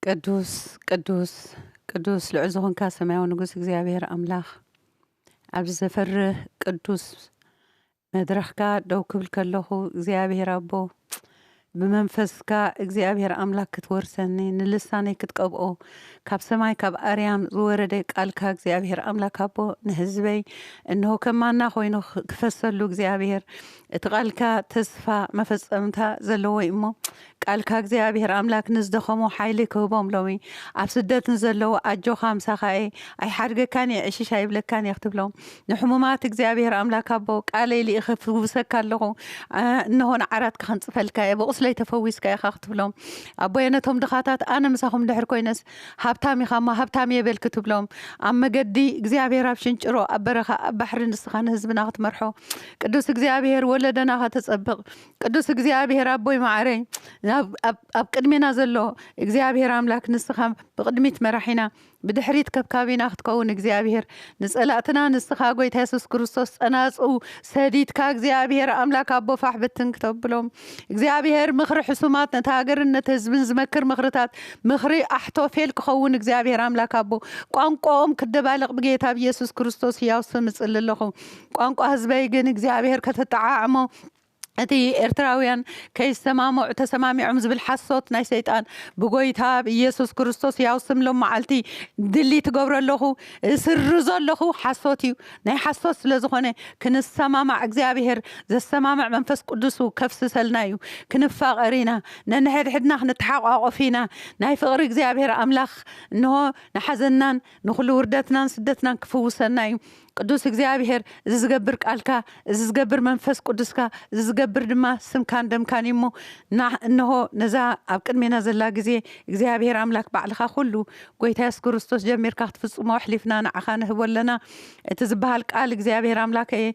ቅዱስ ቅዱስ ቅዱስ ልዑል ዝኾንካ ሰማያዊ ንጉስ እግዚኣብሔር ኣምላኽ ኣብዚ ዘፈርህ ቅዱስ መድረኽካ ደው ክብል ከለኹ እግዚኣብሔር ኣቦ ብመንፈስካ እግዚኣብሔር ኣምላክ ክትወርሰኒ ንልሳነይ ክትቀብኦ ካብ ሰማይ ካብ ኣርያም ዝወረደ ቃልካ እግዚኣብሔር ኣምላክ ኣቦ ንህዝበይ እንሆ ከማና ኮይኑ ክፈሰሉ እግዚኣብሔር እቲ ቃልካ ተስፋ መፈፀምታ ዘለዎ እሞ ቃልካ እግዚኣብሔር ኣምላክ ንዝደኸሙ ሓይሊ ክህቦም ሎሚ ኣብ ስደት ንዘለዉ ኣጆካ ምሳካ እየ ኣይሓድገካን እየ ዕሽሽ ኣይብለካን እየ ክትብሎም ንሕሙማት እግዚኣብሔር ኣምላክ ኣቦ ቃለይ ልኢኸ ፍውሰካ ኣለኹ እነሆ ንዓራትካ ክንጽፈልካ እየ ብቁስለይ ተፈዊስካ ኢካ ክትብሎም ኣቦየ ነቶም ድኻታት ኣነ ምሳኹም ድሕር ኮይነስ ሃብታም ኢካ እሞ ሃብታም እየ በል ክትብሎም ኣብ መገዲ እግዚኣብሔር ኣብ ሽንጭሮ ኣብ በረኻ ኣብ ባሕሪ ንስኻ ንህዝብና ክትመርሖ ቅዱስ እግዚኣብሔር ወለደና ከተጸብቕ ቅዱስ እግዚኣብሔር ኣቦይ መዓረይ ኣብ ቅድሜና ዘሎ እግዚኣብሔር ኣምላክ ንስኻ ብቅድሚት መራሒና ብድሕሪት ከብካቢና ክትከውን እግዚኣብሔር ንጸላእትና ንስኻ ጎይታ የሱስ ክርስቶስ ጸናጽው ሰዲድካ እግዚኣብሔር ኣምላክ ኣቦ ፋሕ ብትን ክተብሎም እግዚኣብሔር ምኽሪ ሕሱማት ነቲ ሃገርን ነቲ ህዝብን ዝመክር ምኽርታት ምኽሪ ኣሕቶፌል ክኸውን እግዚኣብሔር ኣምላክ ኣቦ ቋንቋኦም ክደባልቕ ብጌታ ብየሱስ ክርስቶስ ህያው ስም እጽሊ ኣለኹ ቋንቋ ህዝበይ ግን እግዚኣብሔር ከተጠዓዕሞ እቲ ኤርትራውያን ከይሰማምዑ ተሰማሚዖም ዝብል ሓሶት ናይ ሰይጣን ብጎይታ ብ ኢየሱስ ክርስቶስ ያው ስም ሎምዓልቲ ድሊት እገብሮ ኣለኹ እስርዞ ኣለኹ ሓሶት እዩ ናይ ሓሶት ስለ ዝኾነ ክንሰማማዕ እግዚኣብሔር ዘሰማምዕ መንፈስ ቅዱሱ ከፍስሰልና እዩ ክንፋቀር ኢና ነንሕድሕድና ክንተሓቋቆፍ ኢና ናይ ፍቅሪ እግዚኣብሔር ኣምላኽ እንሆ ንሓዘናን ንኹሉ ውርደትናን ስደትናን ክፍውሰና እዩ ቅዱስ እግዚኣብሔር እዚ ዝገብር ቃልካ፣ እዚ ዝገብር መንፈስ ቅዱስካ፣ እዚ ዝገብር ድማ ስምካን ደምካን እዩ እሞ፣ ናህ እንሆ ነዛ ኣብ ቅድሜና ዘላ ግዜ እግዚኣብሔር ኣምላክ ባዕልካ ኩሉ ጎይታ የሱስ ክርስቶስ ጀሚርካ ክትፍጽሞ ኣሕሊፍና ንዓካ ንህቦ ኣለና እቲ ዝብሃል ቃል እግዚኣብሔር ኣምላከየ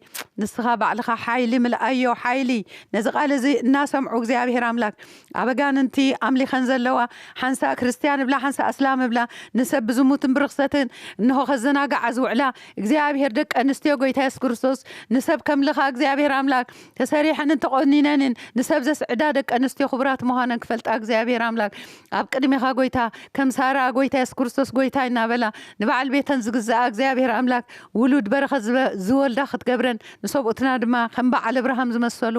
ንስካ ባዕልካ ሓይሊ ምልኣዮ ሓይሊ ነዚ ቃል እዚ እናሰምዑ እግዚኣብሔር ኣምላክ ኣብ ኣጋንንቲ ኣምሊኸን ዘለዋ፣ ሓንሳእ ክርስትያን እብላ ሓንሳእ ኣስላም እብላ፣ ንሰብ ብዝሙትን ብርኽሰትን እንሆ ከዘናግዓ ዝውዕላ፣ እግዚኣብሄር ደቂ ኣንስትዮ ጎይታ የሱስ ክርስቶስ ንሰብ ከምልኻ እግዚኣብሄር ኣምላክ ተሰሪሐንን ተቆኒነንን ንሰብ ዘስዕዳ ደቂ ኣንስትዮ ክቡራት ምዃነን ክፈልጣ እግዚኣብሄር ኣምላክ ኣብ ቅድሜኻ ጎይታ ከም ሳራ ጎይታ የሱስ ክርስቶስ ጎይታይ እናበላ ንበዓል ቤተን ዝግዝኣ እግዚኣብሄር ኣምላክ ውሉድ በረኸት ዝወልዳ ክትገብረን ንሰብኡትና ድማ ከም በዓል እብርሃም ዝመሰሉ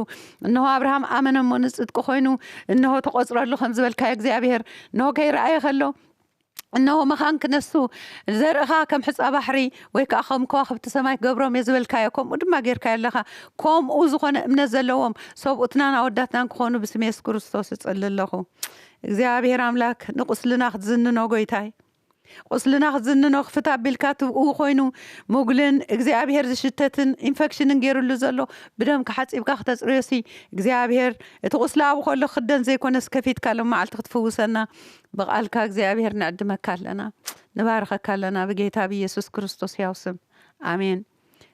እንሆ፣ ኣብርሃም ኣመነ እሞ ንጽድቂ ዀይኑ፣ እንሆ፣ ተቖጽረሉ ኸም ዝበልካዮ እግዚኣብሄር፣ እንሆ፣ ከይረኣየ ኸሎ፣ እንሆ፣ መኻን ክነሱ፣ ዘርኢ ኸኣ ከም ሑጻ ባሕሪ፣ ወይ ከኣ ኸም ከዋኽብቲ ሰማይ ክገብሮም እየ ዝበልካዮ፣ ከምኡ ድማ ጌርካዮ ኣለኻ። ከምኡ ዝዀነ እምነት ዘለዎም፣ ሰብኡትናን ኣወዳትናን ክዀኑ ብስም የሱስ ክርስቶስ እጽሊ ኣለኹ። እግዚኣብሄር ኣምላክ ንቝስልና ክትዝንኖ ጐይታይ። ቁስልና ክትዝንኖ ክፍት ኣቢልካ ትብእው ኮይኑ ሙግልን እግዚኣብሔር ዝሽተትን ኢንፈክሽንን ገይርሉ ዘሎ ብደምካ ሓጺብካ ክተጽርዮሲ እግዚኣብሔር እቲ ቁስሊ ኣብኡ ከሎ ክክደን ዘይኮነስ ከፊትካ ሎማዓልቲ ክትፍውሰና ብቃልካ እግዚኣብሔር ንዕድመካ ኣለና ንባርኸካ ኣለና ብጌታ ብኢየሱስ ክርስቶስ ሕያው ስም ኣሜን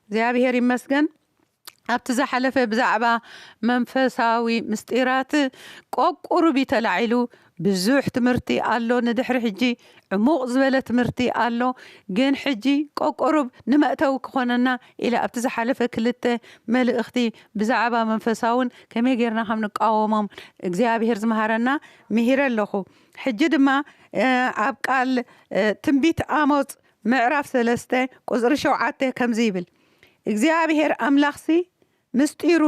እግዚኣብሔር ይመስገን ኣብቲ ዝሓለፈ ብዛዕባ መንፈሳዊ ምስጢራት ቆቁሩቢ ተላዒሉ ብዙሕ ትምህርቲ ኣሎ ንድሕሪ ሕጂ ዕሙቅ ዝበለ ትምህርቲ ኣሎ ግን ሕጂ ቆቆሩብ ንመእተዊ ክኮነና ኢለ ኣብቲ ዝሓለፈ ክልተ መልእክቲ ብዛዕባ መንፈሳውን ከመይ ጌርና ከም ንቃወሞም እግዚኣብሄር ዝመሃረና ምሂረ ኣለኩ ሕጂ ድማ ኣብ ቃል ትንቢት ኣሞጽ ምዕራፍ ሰለስተ ቁጽሪ ሸውዓተ ከምዚ ይብል። እግዚኣብሄር ኣምላኽሲ ምስጢሩ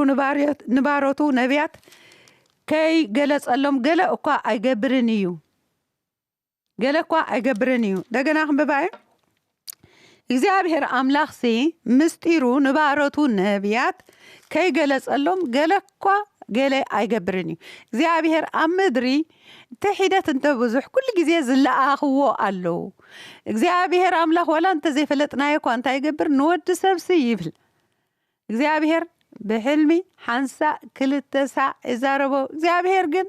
ንባሮቱ ነብያት ከይገለጸሎም ገለ እኳ ኣይገብርን እዩ ገለ እኳ ኣይገብርን እዩ እንደገና ክንብባየ እግዚኣብሄር ኣምላኽሲ ምስጢሩ ንባሮቱ ነብያት ከይገለጸሎም ገለ እኳ ገለ ኣይገብርን እዩ እግዚኣብሄር ኣብ ምድሪ እንተ ሒደት እንተ ብዙሕ ኩሉ ግዜ ዝለኣኽዎ ኣለዉ እግዚኣብሄር ኣምላኽ ዋላ እንተ ዘይፈለጥናዮ እኳ እንታይ ይገብር ንወዲ ሰብሲ ይብል እግዚኣብሄር ብሕልሚ ሓንሳእ ክልተ ሳዕ ይዛረቦ እግዚኣብሄር ግን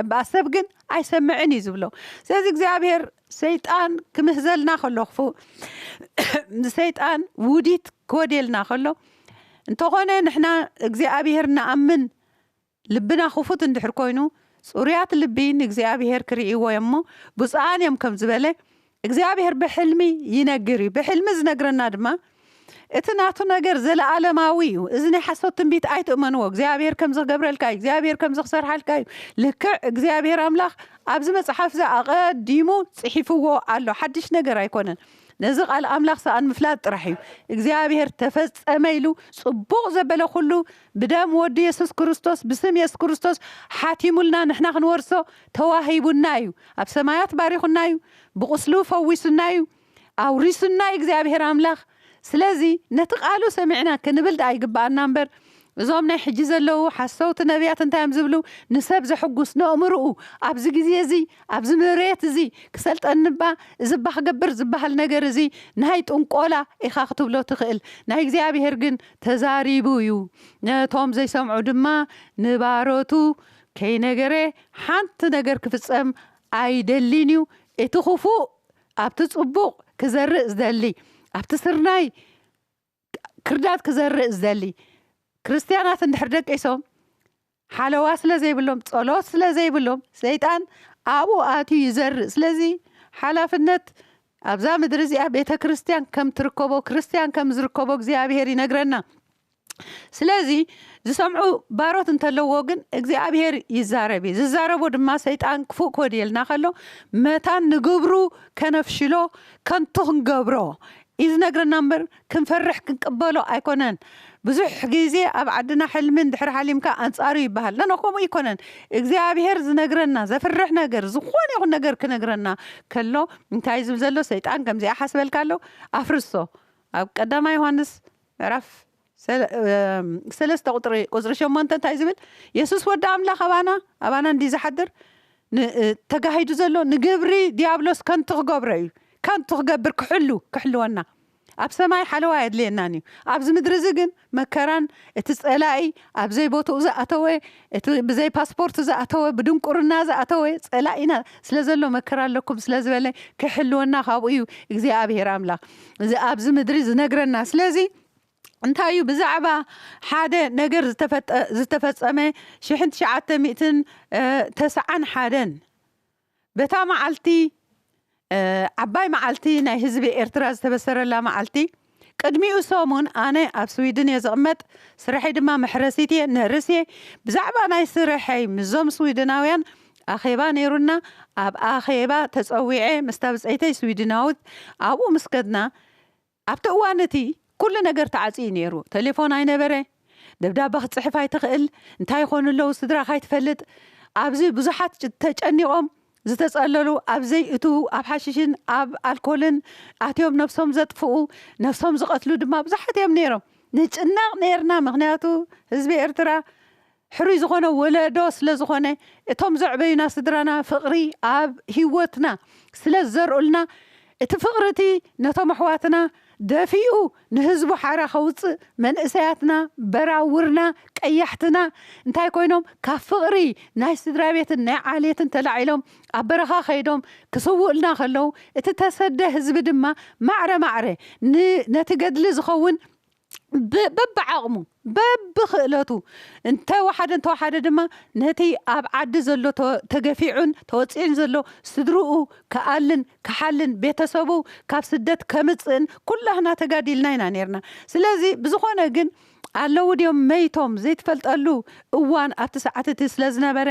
እምበኣር ሰብ ግን ኣይሰምዕን እዩ ዝብሎ። ስለዚ እግዚኣብሄር ሰይጣን ክምህዘልና ከሎ ክፉእ ንሰይጣን ውዲት ክወድየልና ከሎ እንተኾነ ንሕና እግዚኣብሄር ንኣምን ልብና ክፉት እንድሕር ኮይኑ ጽሩያት ልቢ ንእግዚኣብሄር ክርእይዎ እዮም እሞ ብጹኣን እዮም ከም ዝበለ እግዚኣብሄር ብሕልሚ ይነግር እዩ። ብሕልሚ ዝነግረና ድማ እቲ ናቱ ነገር ዘለኣለማዊ እዩ። እዚ ናይ ሓሶት ትንቢት ኣይትእመንዎ። እግዚኣብሄር ከምዚ ክገብረልካ እዩ፣ እግዚኣብሄር ከምዚ ክሰርሓልካ እዩ። ልክዕ እግዚኣብሄር ኣምላኽ ኣብዚ መጽሓፍ እዚ ኣቐዲሙ ጽሒፍዎ ኣሎ። ሓድሽ ነገር ኣይኮነን። ነዚ ቃል ኣምላኽ ሰኣን ምፍላጥ ጥራሕ እዩ። እግዚኣብሄር ተፈጸመ ኢሉ ጽቡቕ ዘበለ ኩሉ ብደም ወዱ የሱስ ክርስቶስ ብስም የሱስ ክርስቶስ ሓቲሙልና ንሕና ክንወርሶ ተዋሂቡና እዩ፣ ኣብ ሰማያት ባሪኹና እዩ፣ ብቑስሉ ፈዊሱና እዩ፣ ኣውሪሱና እዩ እግዚኣብሄር ኣምላኽ። ስለዚ ነቲ ቃሉ ሰሚዕና ክንብል ድኣ ይግብኣና እምበር እዞም ናይ ሕጂ ዘለዉ ሓሰውቲ ነብያት እንታይ እዮም ዝብሉ ንሰብ ዘሕጉስ ነእምርኡ ኣብዚ ግዜ እዚ ኣብዚ ምርየት እዚ ክሰልጠኒ እባ እዚ እባ ክገብር ዝበሃል ነገር እዚ ናይ ጥንቆላ ኢኻ ክትብሎ ትኽእል ናይ እግዚኣብሄር ግን ተዛሪቡ እዩ ነቶም ዘይሰምዑ ድማ ንባሮቱ ከይነገረ ሓንቲ ነገር ክፍጸም ኣይደሊን'ዩ፣ እቲ ክፉእ ኣብቲ ጽቡቕ ክዘርእ ዝደሊ፣ ኣብቲ ስርናይ ክርዳድ ክዘርእ ዝደሊ። ክርስትያናት እንድሕር ደቂሶም፣ ሓለዋ ስለ ዘይብሎም፣ ጸሎት ስለ ዘይብሎም፣ ሰይጣን ኣብኡ ኣትዩ ይዘርእ። ስለዚ ሓላፍነት ኣብዛ ምድሪ እዚኣ ቤተ ክርስትያን ከም ትርከቦ፣ ክርስትያን ከም ዝርከቦ እግዚኣብሄር ይነግረና። ስለዚ ዝሰምዑ ባሮት እንተለዎ ግን እግዚኣብሄር ይዛረብ እዩ ዝዛረቦ ድማ ሰይጣን ክፉእ ክወድየልና ከሎ መታን ንግብሩ ከነፍሽሎ ከንቱ ክንገብሮ እዩ ዝነግረና እምበር ክንፈርሕ ክንቅበሎ ኣይኮነን ብዙሕ ግዜ ኣብ ዓድና ሕልምን ድሕሪ ሓሊምካ ኣንጻሩ ይበሃል ነኖ ከምኡ ኣይኮነን እግዚኣብሄር ዝነግረና ዘፍርሕ ነገር ዝኾነ ይኹን ነገር ክነግረና ከሎ እንታይ ዝብል ዘሎ ሰይጣን ከምዚኣ ሓስበልካ ኣሎ ኣፍርሶ ኣብ ቀዳማ ዮሃንስ ምዕራፍ ሰለስተ ቁፅሪ ሸሞንተ እንታይ ዝብል የሱስ ወዲ ኣምላኽ ኣባና ኣባና እንድዩ ዝሓድር ተጋሂዱ ዘሎ ንግብሪ ዲያብሎስ ከንቱ ክገብሮ እዩ ከንቱ ክገብር ክሕሉ ክሕልወና ኣብ ሰማይ ሓለዋ ኣየድልየናን እዩ ኣብዚ ምድሪ እዚ ግን መከራን እቲ ፀላኢ ኣብዘይ ቦትኡ ዝኣተወ እቲ ብዘይ ፓስፖርት ዝኣተወ ብድንቁርና ዝኣተወ ጸላኢና ስለ ዘሎ መከራ ኣለኩም ስለ ዝበለ ክሕልወና ካብኡ እዩ እግዚኣብሄር ኣምላኽ እዚ ኣብዚ ምድሪ ዝነግረና ስለዚ እንታይ እዩ ብዛዕባ ሓደ ነገር ዝተፈጠ ዝተፈጸመ ሽሕን ትሽዓተ ሚእትን ተስዓን ሓደን በታ መዓልቲ፣ ዓባይ መዓልቲ ናይ ህዝቢ ኤርትራ ዝተበሰረላ መዓልቲ፣ ቅድሚኡ ሰሙን፣ ኣነ ኣብ ስዊድን እየ ዝቕመጥ፣ ስርሐይ ድማ መሕረሲት እየ፣ ነርስ እየ፣ ብዛዕባ ናይ ስርሐይ ምስዞም ስዊድናውያን ኣኼባ ነይሩና፣ ኣብ ኣኼባ ተጸዊዐ ምስታ ብጸይተይ ስዊድናዊት ኣብኡ ምስ ከድና፣ ኣብቲ እዋን እቲ ኩሉ ነገር ተዓጽዩ ነይሩ፣ ተሌፎን ኣይነበረ፣ ደብዳበ ክትጽሕፍ ኣይትኽእል፣ እንታይ ይኾኑ ኣለዉ ስድራኻ ኣይትፈልጥ፣ ኣብዚ ብዙሓት ተጨኒቖም ዝተጸለሉ ኣብ ዘይእትዉ ኣብ ሓሽሽን ኣብ ኣልኮልን ኣትዮም ነብሶም ዘጥፍኡ ነብሶም ዝቐትሉ ድማ ብዙሓት እዮም ነይሮም፣ ንጭነቕ ነይርና ምኽንያቱ ህዝቢ ኤርትራ ሕሩይ ዝኾነ ወለዶ ስለ ዝኾነ እቶም ዘዕበዩና ስድራና ፍቕሪ ኣብ ሂወትና ስለ ዝዘርኡልና እቲ ፍቕሪ እቲ ነቶም ኣሕዋትና ደፊኡ ንህዝቡ ሓራ ከውጽእ መንእሰያትና በራውርና ቀያሕትና እንታይ ኮይኖም ካብ ፍቕሪ ናይ ስድራቤትን ናይ ዓሌትን ተላዒሎም ኣብ በረኻ ከይዶም ክስውኡልና ከለዉ እቲ ተሰደ ህዝቢ ድማ ማዕረ ማዕረ ን ነቲ ገድሊ ዝኸውን በብዓቕሙ በብክእለቱ እንተወሓደ እንተወሓደ ድማ ነቲ ኣብ ዓዲ ዘሎ ተገፊዑን ተወፂዑን ዘሎ ስድርኡ ክኣልን ክሓልን ቤተሰቡ ካብ ስደት ከምፅእን ኩላህና ተጋዲልና ኢና ነይርና ስለዚ ብዝኾነ ግን ኣለዉ ድዮም መይቶም ዘይትፈልጠሉ እዋን ኣብቲ ሰዓት እቲ ስለዝነበረ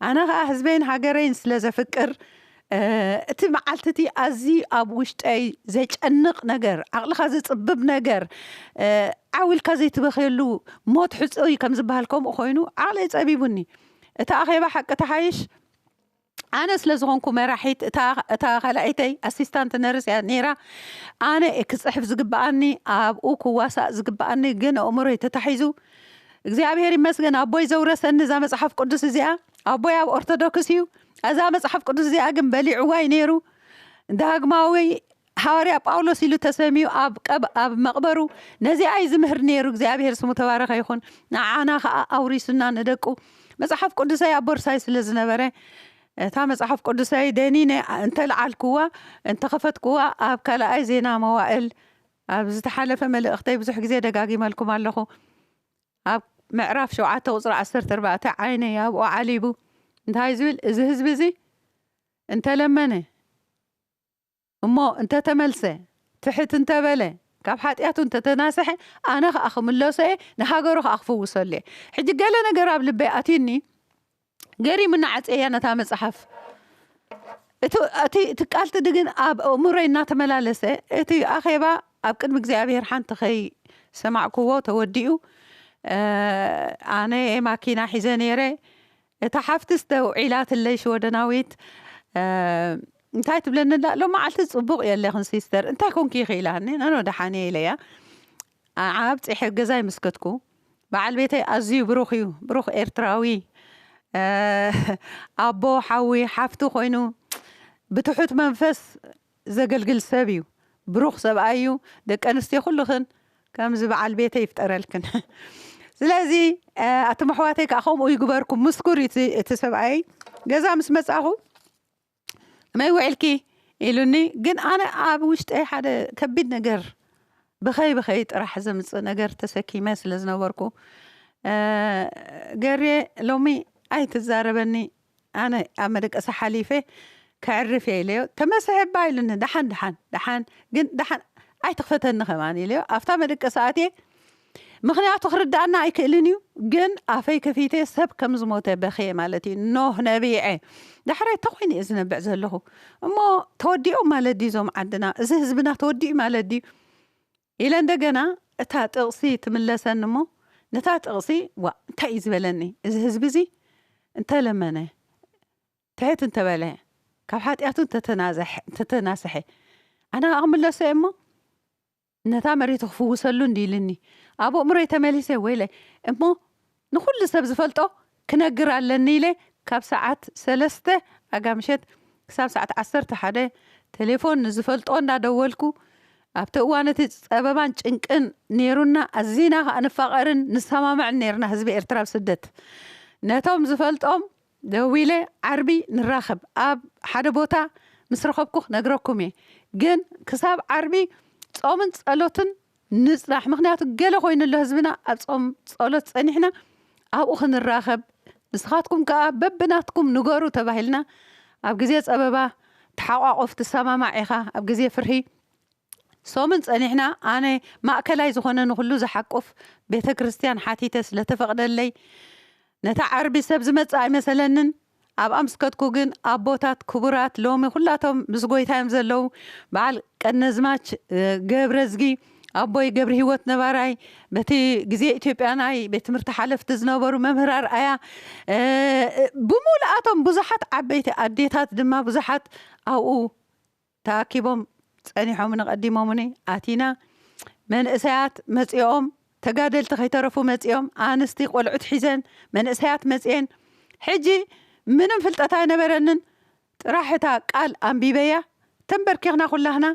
ኣነ ከዓ ህዝበይን ሃገረይን ስለዘፍቅር እቲ መዓልቲ እቲ ኣዝዩ ኣብ ውሽጠይ ዜጨንቕ ነገር፣ ዓቕልኻ ዜጽብብ ነገር፣ ዓው ኢልካ ዘይትበኽየሉ ሞት ሕጹይ እዩ ከም ዚብሃል ከምኡ ዀይኑ ዓቕለይ ጸቢቡኒ። እቲ ኣኼባ ሓቂ ተሓይሽ ኣነ ስለ ዝዀንኩ መራሒት፣ እታ እታ ካልኣይተይ፣ ኣሲስታንት ነርስ፣ እያ ነይራ። ኣነ እየ ክጽሕፍ ዚግብኣኒ፣ ኣብኡ ክዋሳእ ዚግብኣኒ፣ ግን ኣእምሮይ ተታሒዙ። እግዚኣብሄር ይመስገን፣ ኣቦይ ዘውረሰኒ እዛ መጽሓፍ ቅዱስ እዚኣ። ኣቦይ ኣብ ኦርቶዶክስ እዩ። እዛ መጽሓፍ ቅዱስ እዚኣ ግን በሊዕዋ እዩ ነይሩ። ዳግማዊ ሃዋርያ ጳውሎስ ኢሉ ተሰምዩ ኣብ ቀብ ኣብ መቕበሩ ነዚኣ እዩ ዝምህር ነይሩ። እግዚኣብሔር ስሙ ተባረኸ ይኹን። ንዓና ከኣ ኣውሪሱና ንደቁ። መጽሓፍ ቅዱሰይ ኣብ ቦርሳይ ስለ ዝነበረ እታ መጽሓፍ ቅዱሰይ ደኒነ እንተልዓልኩዋ እንተኸፈትኩዋ ኣብ ካልኣይ ዜና መዋእል ኣብ ዝተሓለፈ መልእኽተይ ብዙሕ ግዜ ደጋጊመልኩም ኣለኹ። ኣብ ምዕራፍ ሸውዓተ ቁጽሪ ዓሰርተ ኣርባዕተ ዓይነይ ኣብኡ ዓሊቡ እንታይ ዝብል እዚ ህዝቢ እዚ እንተ ለመነ እሞ እንተ ተመልሰ ትሕት እንተ በለ ካብ ሓጢኣቱ እንተ ተናሰሐ ኣነ ከኣ ክምለሶ እየ ንሃገሩ ከኣ ክፍውሰሉ እየ ሕጂ ገለ ነገር ኣብ ልበይ ኣትዩኒ ገሪሙኒ ዓጽየያ ነታ መጽሓፍ። እቲ እቲ እቲ ቃልቲ ግን ኣብ ኣእምሮይ እናተመላለሰ እቲ ኣኼባ ኣብ ቅድሚ እግዚኣብሔር ሓንቲ ከይ ሰማዕክዎ ተወዲኡ ኣነ ማኪና ሒዘ ነይረ እታ ሓፍትስ ደው ዒላትለይ ሽወደናዊት እንታይ ትብለኒ ኣላ ሎማዓልቲ ጽቡቅ የለኽን ሲስተር እንታይ ኮንኪ ኢኺ ኢላኒ ኣነ ደሓን እየ ኢለያ ኣዓ ኣብጺሐ ገዛይ ምስ ከድኩ በዓል ቤተይ ኣዝዩ ብሩኽ እዩ ብሩኽ ኤርትራዊ ኣቦ ሓዊ ሓፍቲ ኮይኑ ብትሑት መንፈስ ዘገልግል ሰብ እዩ ብሩኽ ሰብኣይ እዩ ደቂ ኣንስትዮ ኩልኽን ከምዚ በዓል ቤተይ ይፍጠረልክን ስለዚ ኣቱም ኣሕዋተይ ከኣ ከምኡ ይግበርኩም ምስኩር እዩ እቲ ሰብኣየይ ገዛ ምስ መጻኹ ከመይ ውዒልኪ ኢሉኒ ግን ኣነ ኣብ ውሽጠይ ሓደ ከቢድ ነገር ብኸይ ብኸይ ጥራሕ ዘምፅእ ነገር ተሰኪመ ስለ ዝነበርኩ ገርየ ሎሚ ኣይትዛረበኒ ኣነ ኣብ መደቀሲ ሓሊፈ ከዕርፍ እየ ኢለዮ ተመሰሐባ ኢሉኒ ደሓን ደሓን ደሓን ግን ደሓን ኣይትኽፈተኒ ከማን ኢለዮ ኣብታ መደቀሲ ኣትየ ምኽንያቱ ክርድኣና ኣይክእልን እዩ ግን ኣፈይ ከፊተ ሰብ ከም ዝሞተ በኽየ ማለት እዩ ኖህ ነቢዐ ዳሕራይ እንታይ ኮይኑ እየ ዝነብዕ ዘለኹ እሞ ተወዲኦም ማለት ድዩ እዞም ዓድና እዚ ህዝብና ተወዲኡ ማለት ድዩ ኢለ እንደገና እታ ጥቕሲ ትምለሰኒ እሞ ነታ ጥቕሲ ዋ እንታይ እዩ ዝበለኒ እዚ ህዝቢ እዚ እንተለመነ ትሕት እንተበለ ካብ ሓጢኣቱ እንተተናሰሐ ኣነ ኣቕምለሰ እሞ ነታ መሬቱ ክፍውሰሉ እንድዩ ኢልኒ ኣብ ኣእምሮይ ተመሊሰ ወይለ እሞ ንኹሉ ሰብ ዝፈልጦ ክነግር ኣለኒ ኢለ ካብ ሰዓት ሰለስተ ኣጋምሸት ክሳብ ሰዓት ዓሰርተ ሓደ ተሌፎን ንዝፈልጦ እንዳደወልኩ ኣብቲ እዋን እቲ ጸበባን ጭንቅን ኔሩና ኣዚና ከኣ ንፋቐርን ንሰማማዕን ኔርና ህዝቢ ኤርትራ ኣብ ስደት ነቶም ዝፈልጦም ደዊለ ዓርቢ ንራኸብ ኣብ ሓደ ቦታ ምስ ረኸብኩ ክነግረኩም እየ ግን ክሳብ ዓርቢ ጾምን ጸሎትን ንጽናሕ ምኽንያቱ ገለ ኮይኑ ኣሎ ህዝብና ኣብ ጾም ጸሎት ጸኒሕና ኣብኡ ክንራኸብ ንስኻትኩም ከኣ በብናትኩም ንገሩ ተባሂልና ኣብ ግዜ ጸበባ ተሓቋቆፍ ትሰማማዕ ኢኻ ኣብ ግዜ ፍርሂ ሶምን ጸኒሕና ኣነ ማእከላይ ዝኾነ ንኹሉ ዝሓቁፍ ቤተክርስትያን ሓቲተ ስለተፈቅደለይ ነታ ዓርቢ ሰብ ዝመጽእ ኣይመሰለንን ኣብ ኣምስከትኩ ግን ኣቦታት ክቡራት ሎሚ ኩላቶም ምስ ጎይታዮም ዘለዉ በዓል ቀነዝማች ገብረዝጊ ኣቦይ ገብርሂወት ነባራይ በቲ ግዜ ኢትዮጵያ ናይ ቤት ትምህርቲ ሓለፍቲ ዝነበሩ መምህር ኣርኣያ ብሙሉኣቶም ብዙሓት ዓበይቲ ኣዴታት ድማ ብዙሓት ኣብኡ ተኣኪቦም ጸኒሖምኒ ቀዲሞሙኒ ኣቲና መንእሰያት መጺኦም ተጋደልቲ ከይተረፉ መጺኦም ኣንስቲ ቆልዑት ሒዘን መንእሰያት መጺኤን ሕጂ ምንም ፍልጠት ኣይነበረንን ጥራሕ እታ ቃል ኣንቢበያ ተንበርኪኽና ኩላህና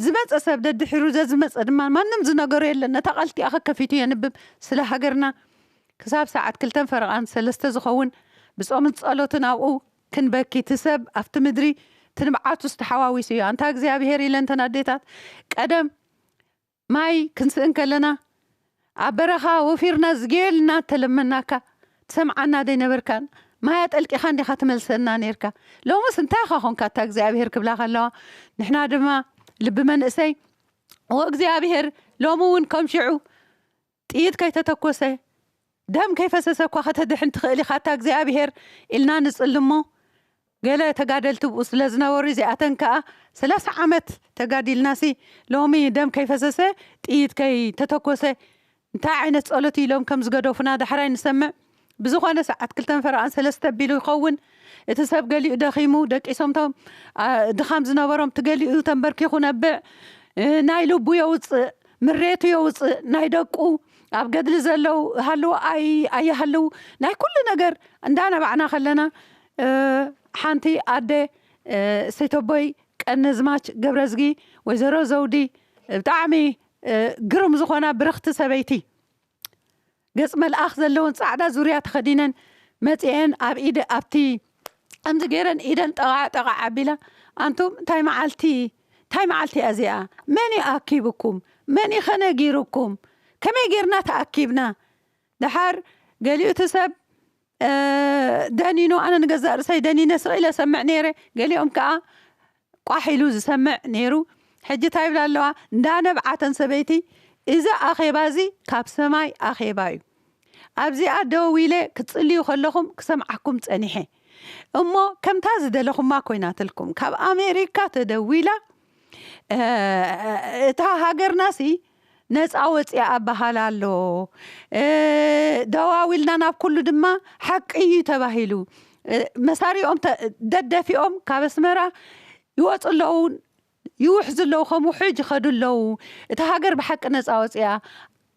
ዝመጸ ሰብ ደድሒሩ ዘዝመጸ ድማ ማንም ዝነገሮ የለን ነታ ቃል እቲኣ ከከፊቱ የንብብ ስለ ሃገርና ክሳብ ሰዓት ክልተን ፈረቓን ሰለስተ ዝኸውን ብጾምን ጸሎትን ኣብኡ ክንበኪ እቲ ሰብ ኣብቲ ምድሪ እቲ ንብዓቱስ ተሓዋዊሱ እዩ ኣንታ እግዚኣብሄር ኢለን እተን ኣዴታት ቀደም ማይ ክንስእን ከለና ኣብ በረኻ ወፊርና ዝጌልና እተለመናካ ትሰምዓና ደይነበርካን ማይ ኣጠልቂኻን ዲኻ ትመልሰና ኔርካ ሎምስ እንታይ ኢኻ ኮንካ ኣታ እግዚኣብሄር ክብላ ከለዋ ንሕና ድማ ልቢ መንእሰይ ኦእግዚኣብሄር ሎሚ እውን ከም ሽዑ ጥይት ከይተተኮሰ ደም ከይፈሰሰ እኳ ከተድሕን ትኽእል ኢኻ ኣታ እግዚኣብሄር ኢልና ንጽሊ'ሞ ገለ ተጋደልቲ ኣብኡ ስለ ዝነበሩ እዚኣተን ከኣ ሰላሳ ዓመት ተጋዲልናሲ ሎሚ ደም ከይፈሰሰ ጥይት ከይተተኮሰ እንታይ ዓይነት ጸሎት እዩ ኢሎም ከም ዝገደፉና ዳሕራይ ንሰምዕ ብዝኾነ ሰዓት ክልተን ፈረቓን ሰለስተ ኣቢሉ ይኸውን እቲ ሰብ ገሊኡ ደኺሙ ደቂሶምቶም ድኻም ዝነበሮም እቲ ገሊኡ ተንበርኪኹ ነብዕ ናይ ልቡ የውፅእ ምሬቱ የውፅእ ናይ ደቁ ኣብ ገድሊ ዘለው ሃልዎ ኣይ ኣይሃልው ናይ ኩሉ ነገር እንዳነባዕና ከለና ሓንቲ ኣደ ሰይተቦይ ቀነዝማች ገብረዝጊ ወይዘሮ ዘውዲ ብጣዕሚ ግሩም ዝኾና ብርኽቲ ሰበይቲ ገጽ መልኣኽ ዘለወን ጻዕዳ ዙርያ ተኸዲነን መጺኤን ኣብ ኢደ ኣብቲ ከምዚ ገይረን ኢደን ጠቓዕ ጠቓዕ ኣቢላ ኣንቱም እንታይ መዓልቲ እንታይ መዓልቲ እያ እዚኣ መን እዩ ኣኪብኩም መን እዩኸ ነጊሩኩም ከመይ ገይርና ተኣኪብና ደሓር ገሊኡቲ ሰብ ደኒኑ ኣነ ንገዛእ ርእሰይ ደኒነ ስቅ ኢለ ሰምዕ ነይረ ገሊኦም ከኣ ቋሕ ኢሉ ዝሰምዕ ነይሩ ሕጂ ታይ ይብላ ኣለዋ እንዳ ነብዓ እተን ሰበይቲ እዚ ኣኼባ እዚ ካብ ሰማይ ኣኼባ እዩ ኣብዚኣ ደው ኢለ ክትጽልዩ ከለኹም ክሰምዓኩም ጸኒሐ እሞ ከምታ ዝደለኹማ ኮይናትልኩም ካብ ኣሜሪካ ተደዊላ እታ ሃገርናሲ ነጻ ወጺኣ እበሃል ኣሎ። ደዋዊልና ናብ ኩሉ ድማ ሓቂ እዩ ተባሂሉ። መሳሪኦም ደደፊኦም ካብ ኣስመራ ይወጹ ኣለዉ፣ ይውሕዙ ኣለዉ፣ ከም ውሕጅ ይኸዱ ኣለዉ። እታ ሃገር ብሓቂ ነጻ ወጺኣ።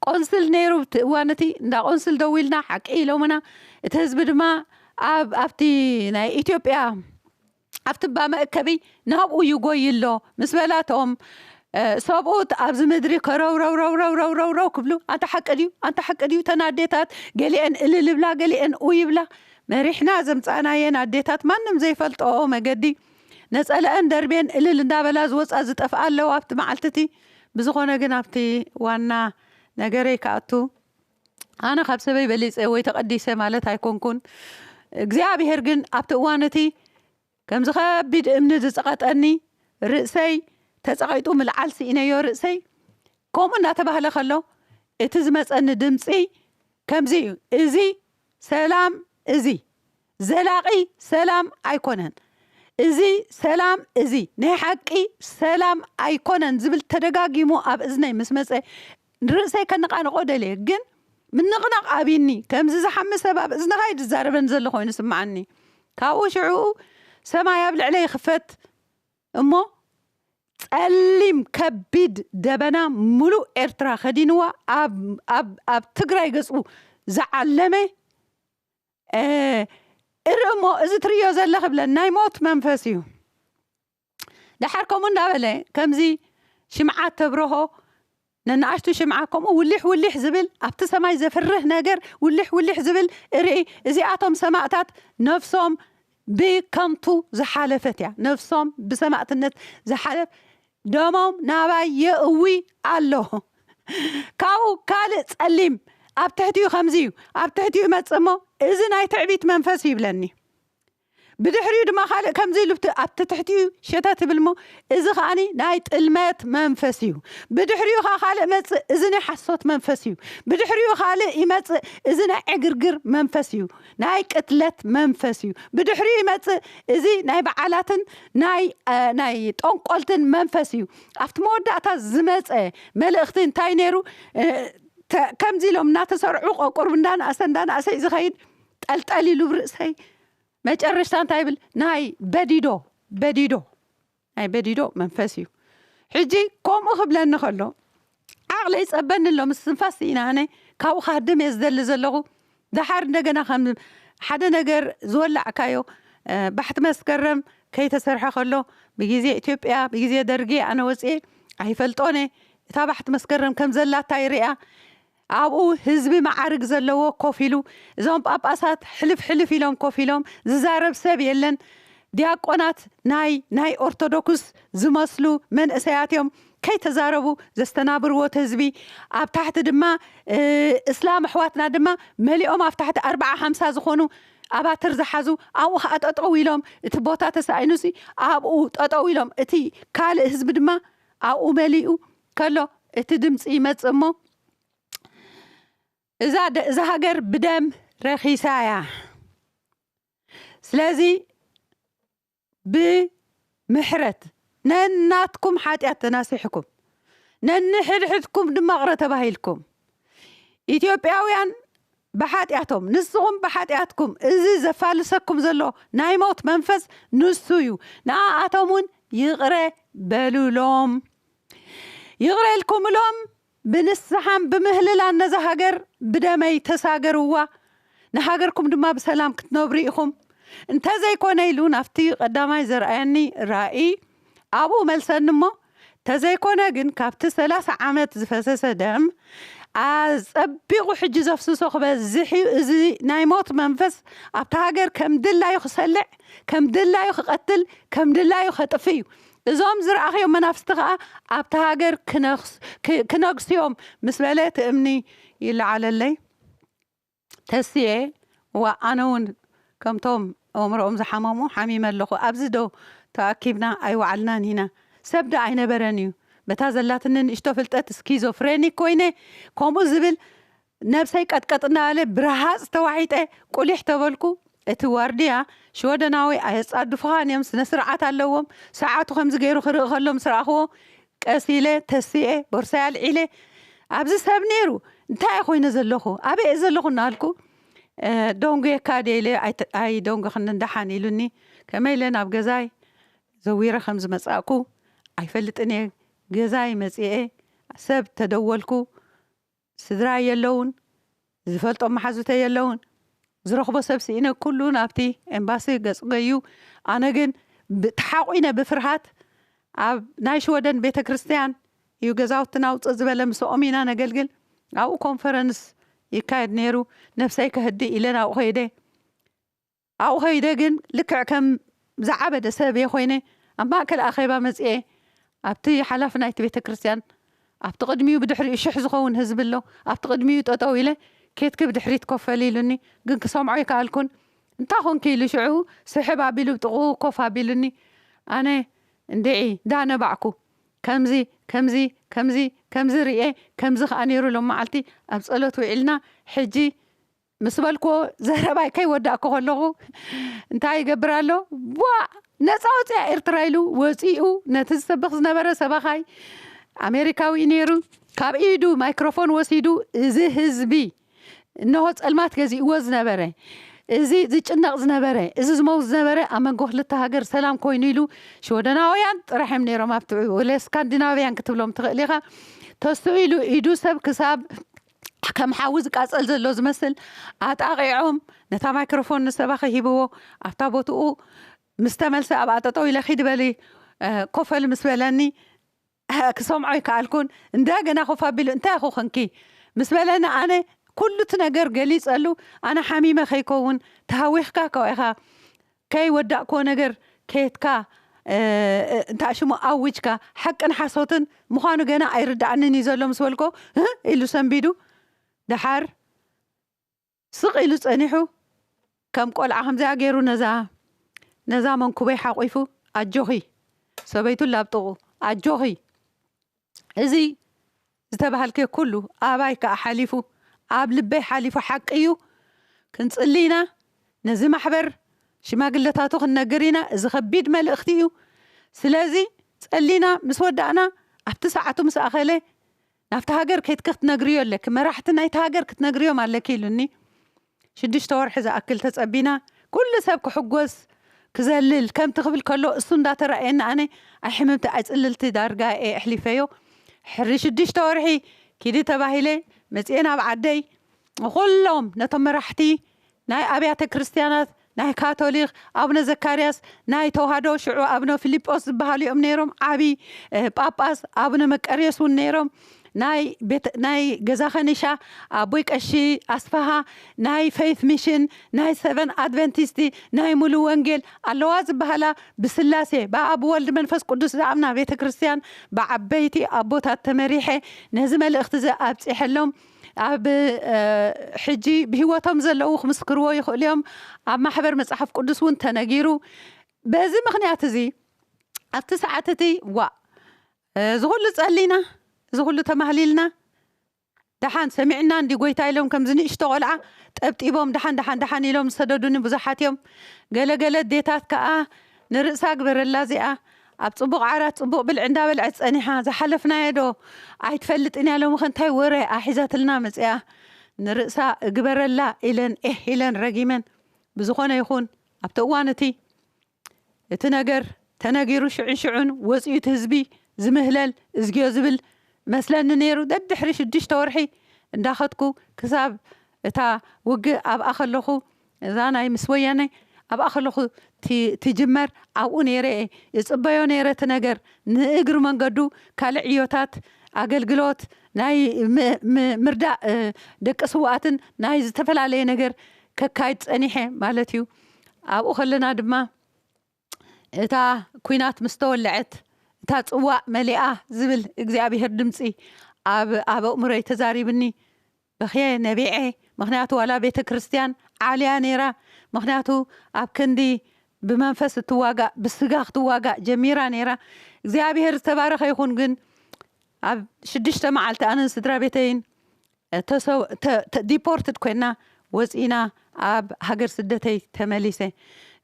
ቆንስል ነይሩ ኣብቲ እዋን እቲ፣ እንዳ ቆንስል ደዊልና ሓቂ ኢሎምና። እቲ ህዝቢ ድማ ኣብ ኣብቲ ናይ ኢትዮጵያ ኣብቲ እባ መእከቢ ናብኡ ይጎዪ ኣሎ ምስ በላቶም፣ ሰብኡት ኣብዚ ምድሪ ከረውረውረውረውረውረውረው ክብሉ፣ ኣንታ ሓቂ ድዩ? ኣንታ ሓቂ ድዩ? እተን ኣዴታት ገሊኤን እልል ይብላ፣ ገሊኤን ኡይ ይብላ። መሪሕና ዘምጻእናየን ኣዴታት ማንም ዘይፈልጠኦ መገዲ፣ ነጸለኣን ደርብየን እልል እንዳበላ ዝወጻ ዝጠፍኣ ኣለዋ ኣብቲ መዓልቲ እቲ። ብዝኾነ ግን ኣብቲ ዋና ነገረይ ክኣቱ። ኣነ ካብ ሰበይ በሊጸ ወይ ተቐዲሰ ማለት ኣይኮንኩን። እግዚኣብሔር ግን ኣብቲ እዋን እቲ ከምዚ ከቢድ እምኒ ዝጸቐጠኒ ርእሰይ ተጸቒጡ ምልዓል ስኢነዮ ርእሰይ ከምኡ እናተባህለ ከሎ እቲ ዝመጸኒ ድምጺ ከምዚ እዩ እዚ ሰላም እዚ ዘላቂ ሰላም ኣይኮነን እዚ ሰላም እዚ ናይ ሓቂ ሰላም ኣይኮነን ዝብል ተደጋጊሙ ኣብ እዝነይ ምስ መጸ ንርእሰይ ከነቓንቖ ደልየ ግን ምንቕናቕ ኣብይኒ ከምዚ ዝሓሚ ሰብ ኣብ እዝንኻ እዩ ዝዛረበኒ ዘሎ ኮይኑ ስምዓኒ ካብኡ ሽዕኡ ሰማይ ኣብ ልዕለይ ይኽፈት እሞ ጸሊም ከቢድ ደበና ሙሉእ ኤርትራ ከዲንዋ ኣብ ትግራይ ገጹ ዝዓለመ እህ እር እሞ እዚ ትርእዮ ዘለኺ ብለን ናይ ሞት መንፈስ እዩ ደሓር ከምኡ እንዳበለ ከምዚ ሽምዓ ተብርሆ ነንኣሽቱ ሽምዓ ከምኡ ውሊሕ ውሊሕ ዝብል ኣብቲ ሰማይ ዘፍርህ ነገር ውሊሕ ውሊሕ ዝብል እርኢ እዚኣቶም ሰማእታት ነፍሶም ብከንቱ ዝሓለፈት እያ ነፍሶም ብሰማእትነት ዝሓለፍ ደሞም ናባይ የእዊ ኣሎ ካብኡ ካልእ ጸሊም ኣብ ትሕቲኡ ከምዚ እዩ ኣብ ትሕቲኡ ይመጽእ እሞ እዚ ናይ ትዕቢት መንፈስ እዩ ይብለኒ ብድሕሪኡ ድማ ካልእ ከምዚ ኢሉ ኣብቲ ትሕቲኡ ሸተት ይብል እሞ እዚ ከኣ ናይ ጥልመት መንፈስ እዩ ብድሕሪኡ ከኣ ካልእ መጽእ እዚ ናይ ሓሶት መንፈስ እዩ ብድሕሪኡ ካልእ ይመጽእ እዚ ናይ ዕግርግር መንፈስ እዩ ናይ ቅትለት መንፈስ እዩ ብድሕሪኡ ይመጽእ እዚ ናይ በዓላትን ናይ ናይ ጦንቆልትን መንፈስ እዩ ኣብቲ መወዳእታ ዝመጸ መልእኽቲ እንታይ ነይሩ ከምዚ ኢሎም እናተሰርዑ ቆቁርብ እንዳናእሰ እንዳናእሰ እዩ ዝኸይድ ጠልጠል ኢሉ ብርእሰይ መጨረሽታ እንታይ ይብል ናይ በዲዶ በዲዶ ናይ በዲዶ መንፈስ እዩ ሕጂ ኮምኡ ክብለኒ ከሎ ዓቅለይ ጸበኒ ኣሎ ምስ ትንፋስ ስኢነ ኣነ ካብኡ ክሃድም እየ ዝደሊ ዘለኹ ደሓር እንደገና ከም ሓደ ነገር ዝወላዕካዮ ባሕቲ መስከረም ከይተሰርሐ ከሎ ብግዜ ኢትዮጵያ ብግዜ ደርጊ ኣነ ወጽኤ ኣይፈልጦን እየ እታ ባሕቲ መስከረም ከም ዘላታ ይርኣ ኣብኡ ህዝቢ መዓርግ ዘለዎ ኮፍ ኢሉ፣ እዞም ጳጳሳት ሕልፍ ሕልፍ ኢሎም ኮፍ ኢሎም፣ ዝዛረብ ሰብ የለን፣ ዲያቆናት ናይ ናይ ኦርቶዶክስ ዝመስሉ መንእሰያት እዮም፣ ከይተዛረቡ ዘስተናብርዎ እቲ ህዝቢ፣ ኣብ ታሕቲ ድማ እስላም ኣሕዋትና ድማ መሊኦም ኣብ ታሕቲ ኣርብዓ ሓምሳ ዝኾኑ ኣባትር ዝሓዙ ኣብኡ ከኣ ጠጠው ኢሎም እቲ ቦታ ተሳኢኑሲ ኣብኡ ጠጠው ኢሎም እቲ ካልእ ህዝቢ ድማ ኣብኡ መሊኡ ከሎ እቲ ድምጺ ይመጽእ እሞ እዛ እዛ ሃገር ብደም ረኺሳ እያ ስለዚ ብምሕረት ነናትኩም ሓጢኣት ተናሲሕኩም ነንሕድሕድኩም ድማ ቅረ ተባሂልኩም ኢትዮጵያውያን ብሓጢኣቶም፣ ንስኹም ብሓጢኣትኩም፣ እዚ ዘፋልሰኩም ዘሎ ናይ ሞት መንፈስ ንሱ እዩ፣ ንኣኣቶም እውን ይቕረ በሉሎም። ይቕረ ኢልኩምሎም፣ ብንስሓን ብምህልላን ነዛ ሃገር ብደመይ ተሳገርዋ፣ ንሃገርኩም ድማ ብሰላም ክትነብሩ ኢኹም፣ እንተ ዘይኮነ ኢሉ ናብቲ ቀዳማይ ዘርኣየኒ ራእይ፣ ኣብኡ መልሰኒ እሞ ተዘይኮነ ግን ካብቲ ሰላሳ ዓመት ዝፈሰሰ ደም ኣጸቢቑ ሕጂ ዘፍስሶ ክበዝሕ'ዩ እዚ ናይ ሞት መንፈስ ኣብታ ሃገር ከም ድላዩ ክሰልዕ ከም ድላዩ ክቐትል ከም ድላዩ ከጥፍእ'ዩ እዞም ዝረኣኽዮም መናፍስቲ ከኣ ኣብታ ሃገር ክነግሱ'ዮም ምስ በለ ትእምኒ ይለዓለለይ። ተስየ እዋእ ኣነ ውን ከምቶም ኣእምሮኦም ዝሓመሙ ሓሚመ ኣለኹ ኣብዚ ዶ ተኣኪብና ኣይወዓልናን ኢና ሰብ ዶ ኣይነበረን እዩ በታ ዘላትኒ ንእሽቶ ፍልጠት ስኪዞ ፍሬኒክ ኮይነ ከምኡ ዝብል ነብሰይ ቀጥቀጥ እንዳበለ ብረሃጽ ተዋሒጠ ቁሊሕ ተበልኩ እቲ ዋርድያ ሽወደናዊ ኣየጻድፉኻን እዮም ስነ ስርዓት ኣለዎም ሰዓቱ ከምዚ ገይሩ ክርኢ ከሎ ምስ ረኣኽዎ ቀስ ኢለ ተሲኤ ቦርሳይ ኣልዒለ ኣብዚ ሰብ ነይሩ እንታይ'የ ኮይነ ዘለኹ ኣበይ'የ ዘለኹ እናበልኩ ዶንጉየካ ድየ ኢለ ኣይደንጎኽንን ደሓን ኢሉኒ ከመይ ኢለ ናብ ገዛይ ዘዊረ ከም ዝመጻእኩ ኣይፈልጥን'የ ገዛይ መጺኤ ሰብ ተደወልኩ ስድራይ የለዉን፣ ዝፈልጦም መሓዙተይ የለዉን፣ ዝረኽቦ ሰብ ስኢነ ኩሉ ናብቲ ኤምባሲ ገጹ ገዩ፣ ኣነ ግን ተሓቑነ ብፍርሃት ኣብ ናይ ሽወደን ቤተክርስትያን እዩ ገዛውትና ውጽእ ዝበለ ምሰኦም ኢና ነገልግል ኣብኡ ኮንፈረንስ ይካየድ ኔሩ ነብሰይ ከህድእ ኢለ ናብኡ ከይደ ኣብኡ ከይደ ግን ልክዕ ከም ዝዓበደ ሰብ እየ ዀይነ ኣብ ማእከል ኣኼባ መጺኤ፣ ኣብቲ ሓላፊ ናይቲ ቤተ ክርስትያን ኣብቲ ቅድሚኡ ብድሕሪኡ ሽሕ ዝኸውን ህዝቢ ኣሎ ኣብቲ ቅድሚኡ ጠጠው ኢለ ኬትኪ ብድሕሪት ኮፍ በሊ ኢሉኒ ግን ክሰምዖ ኣይከኣልኩን እንታይ ኾንኪ ኢሉ ሽዑ ስሕብ ኣቢሉ ብጥቕኡ ኮፍ ኣቢሉኒ ኣነ እንድዒ ዳነባዕኩ ከምዚ ከምዚ ከምዚ ከምዚ ርእየ ከምዚ ከኣ ነይሩ ሎምመዓልቲ ኣብ ጸሎት ውዒልና ሕጂ ምስ በልኩዎ ዘረባይ ከይወዳእኩ ከለኹ እንታይ ይገብር ኣሎ ቧእ ነጻ ወጺኣ ኤርትራ ኢሉ ወጺኡ ነቲ ዝሰብኽ ዝነበረ ሰባኻይ ኣሜሪካዊ እዩ ነይሩ ካብ ኢዱ ማይክሮፎን ወሲዱ እዚ ህዝቢ እነሆ ጸልማት ገዚእዎ ዝነበረ እዚ ዝጭነቕ ዝነበረ እዚ ዝመውት ዝነበረ ኣብ መንጎ ክልተ ሃገር ሰላም ኮይኑ ኢሉ ሽወደናውያን ጥራሕ እዮም ነይሮም ኣብቲ ወለ ስካንዲናቭያን ክትብሎም ትኽእል ኢኻ ተስኡ ኢሉ ኢዱ ሰብ ክሳብ ከም ሓዊ ዝቃጸል ዘሎ ዝመስል ኣጣቒዖም ነታ ማይክሮፎን ንሰባኺ ሂብዎ ኣብታ ቦትኡ ምስ ተመልሰ ኣብኣ ጠጠው ኢለ ኪድ በሊ ኮፈል ምስ በለኒ ክሰምዖ ኣይከኣልኩን እንደገና ኮፍ ኣቢሉ እንታይ ኢኹ ክንኪ ምስ በለኒ ኣነ ኩሉ እቲ ነገር ገሊጸሉ ኣነ ሓሚመ ከይከውን ተሃዊኽካ ከው ኢኻ ከይ ወዳእክዎ ነገር ከትካ እንታይ ሽሙ ኣዊጅካ ሓቅን ሓሶትን ምዃኑ ገና ኣይርደኣንን እዩ ዘሎ ምስ በልክዎ ህእ ኢሉ ሰንቢዱ ደሓር ስቕ ኢሉ ጸኒሑ ከም ቆልዓ ከምዚኣ ገይሩ ነዛ ነዛ መንኩበይ ሓቝፉ ኣጆኺ ሰበይቱ ላብጥቑ ኣጆኺ እዚ ዝተባህልክዮ ኩሉ ኣባይ ክኣ ሓሊፉ ኣብ ልበይ ሓሊፉ ሓቂ እዩ ክንጽሊ ኢና ነዚ ማሕበር ሽማግለታቱ ክንነግር ኢና እዚ ከቢድ መልእክቲ እዩ ስለዚ ጸሊና ምስ ወዳእና ኣብቲ ሰዓቱ ምስ ኣኸለ ናብቲ ሃገር ከይትኪ ክትነግርዮ ኣለኪ መራሕቲ ናይቲ ሃገር ክትነግርዮም ኣለኪ ኢሉኒ ሽዱሽተ ወርሒ ዝኣክል ተጸቢና ኩሉ ሰብ ክሕጎስ ክዘልል ከምቲ ክብል ከሎ እሱ እንዳተራእየኒ ኣነ ኣይ ሕምምቲ ኣይ ጽልልቲ ዳርጋ እየ ኣሕሊፈዮ ሕሪ ሽዱሽተ ወርሒ ኪዲ ተባሂለ መጽየ ናብ ዓደይ ንኩሎም ነቶም መራሕቲ ናይ ኣብያተ ክርስትያናት ናይ ካቶሊኽ ኣቡነ ዘካርያስ፣ ናይ ተዋህዶ ሽዑ ኣቡነ ፊሊጶስ ዝበሃሉ እዮም ነይሮም፣ ዓቢ ጳጳስ፣ ኣቡነ መቀርዮስ እውን ነይሮም፣ ናይ ቤተ ናይ ገዛ ከኒሻ፣ ኣቦይ ቀሺ ኣስፍሃ፣ ናይ ፈይት ሚሽን፣ ናይ ሰቨን ኣድቨንቲስት፣ ናይ ሙሉ ወንጌል፣ ኣለዋ ዝበሃላ ብስላሴ፣ ብኣብ ብወልድ መንፈስ ቅዱስ ዝኣምና ቤተ ክርስቲያን ብዓበይቲ ኣቦታት ተመሪሐ ነዚ መልእኽቲ እዚ ኣብጺሐሎም፣ ኣብ ሕጂ ብህይወቶም ዘለዉ ክምስክርዎ ይኽእሉ እዮም። ኣብ ማሕበር መጽሓፍ ቅዱስ እውን ተነጊሩ። በዚ ምኽንያት እዚ ኣብቲ ሰዓት እቲ ዋእ እዚ ኩሉ ጸሊና እዚ ኩሉ ተማህሊልና ደሓን ሰሚዕና እንዲ ጎይታ ኢሎም ከምዚ ንእሽቶ ቆልዓ ጠብጢቦም ደሓን ደሓን ደሓን ኢሎም ዝሰደዱኒ ብዙሓት እዮም። ገለ ገለ ኣዴታት ከኣ ንርእሳ ግበረላ እዚኣ ኣብ ጽቡቕ ዓራት ጽቡቕ ብልዒ እንዳበልዐት ጸኒሓ ዝሓለፍናዮ ዶ ኣይትፈልጥን እያ ሎሚኸ እንታይ ወረ እያ ሒዛትልና መጺኣ ንርእሳ እግበረላ ኢለን ኤህ ኢለን ረጊመን ብዝኾነ ይኹን ኣብቲ እዋን እቲ እቲ ነገር ተነጊሩ ሽዑንሽዑን ወጺኡ እቲ ህዝቢ ዝምህለል እዝግዮ ዝብል እመስለኒ ነይሩ ደድሕሪ ሽዱሽተ ወርሒ እንዳኸድኩ ክሳብ እታ ውግእ ኣብኣ ከለኹ እዛ ናይ ምስ ወያነ ኣብኣ ከለኹ ትጅመር ኣብኡ ነይረ እየ እጽበዮ ነይረ እቲ ነገር ንእግሪ መንገዱ ካልእ ዕዮታት ኣገልግሎት ናይ ምርዳእ ደቂ ስውኣትን ናይ ዝተፈላለየ ነገር ከካይድ ጸኒሐ ማለት እዩ ኣብኡ ከለና ድማ እታ ኲናት ምስ ተወልዐት፣ እታ ጽዋእ መሊኣ ዝብል እግዚኣብሄር ድምጺ ኣብ ኣብ ኣእምሮይ ተዛሪብኒ። በኽየ ነቢዐ ምኽንያቱ ዋላ ቤተ ክርስትያን ዓልያ ነይራ ምኽንያቱ ኣብ ክንዲ ብመንፈስ እትዋጋእ ብስጋ ክትዋጋእ ጀሚራ ነይራ። እግዚኣብሄር ዝተባረኸ ይኹን ግን ኣብ ሽዱሽተ መዓልቲ ኣነን ስድራቤተይን ተሰው ዲፖርትድ ኮይና ወጺእና ኣብ ሃገር ስደተይ ተመሊሰ